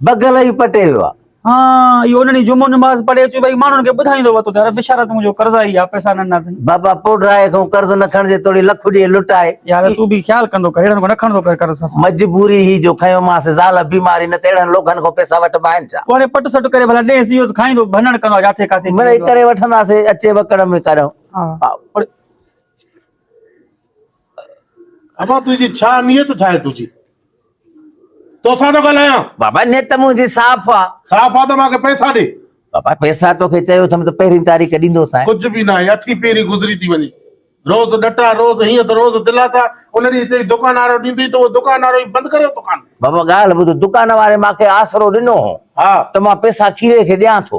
بگل ئي پٽي ويو آ. هان اهو انهن ڏينهن جمعو نماز پڙهي اچي ٻئي ماڻهن کي ٻڌائيندو هو ته ته رب شرط منهنجو قرضائي آ پئسا نه ڏنا اٿئي. بابا پوڍرائي کان قرض نه کڻجي توڙي لک ڏي لٽائي. يار تون به خيال ڪندو ڪر اهڙن کان نه کڻندو ڪر قرض صفا. مجبوري هئي جو کنيومانس زال بيمار هئي نه ته اهڙن لوگهن کان پئسا وٺبا آهن ڇا. پوء هاڻي پٽ سٽ ڪري ڀلا ڏيس اهو ته کائيندو ڀنڻ ڪندو آ جاٿي ڪاٿي چي ويندو آ. مڙئي ڪري وٺنداسين اچي وڪڙ ۾ ڪڏهن. ها. امان تنهنجي ڇا نيت ڇا آهي تنهنجي توسان ٿو ڳالهايان. بابا نيت منهنجي صاف آ. صاف آ ته مان کي پئسا ڏي. بابا پئسا توکي چيو اٿم ته پهرين تاريخ ڏيندوسانء. ڪجهه به ناهي اٺين پهرين گذري ٿي وڃي روز ڏٽا روز هيئن ته روز دلاسا ان ڏينهن چئي دڪان وارو ڏيندئي ته اهو دڪان وارو ئي بند ڪريو تون. بابا ڳالهه ٻڌ دڪان واري مان کي آسرو ڏنو هو ته مان پئسا کيري کي ڏيان ٿو.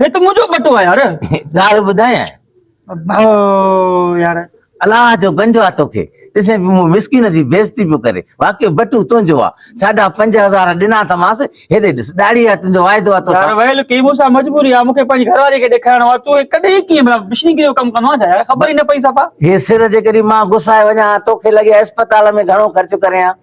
هي ته منهنجو ٻٽو آهي يار ڳالهه ٻڌايان ڀائو يار الله جو گنجو آ توکي ڏسين پيو مون مسڪين جي بيزتي پيو ڪري واقعي بٽو تنهنجو آ ساڍا پنج هزار ڏنا تماس هيڏي ڏس ڏاڙهي آ تنهنجو واعدو آ تو يار ويل ڪي مون سان مجبوري آ مونکي پنهنجي گهر واري کي ڏيکارڻو آ تو ڪڏهن ڪي مشين ڪريو ڪم ڪندو آ يار خبر ئي نه پئي صفا هي سر جي ڪري مان غصائي وڃان توکي لڳي اسپتال ۾ گهڻو خرچ ڪريان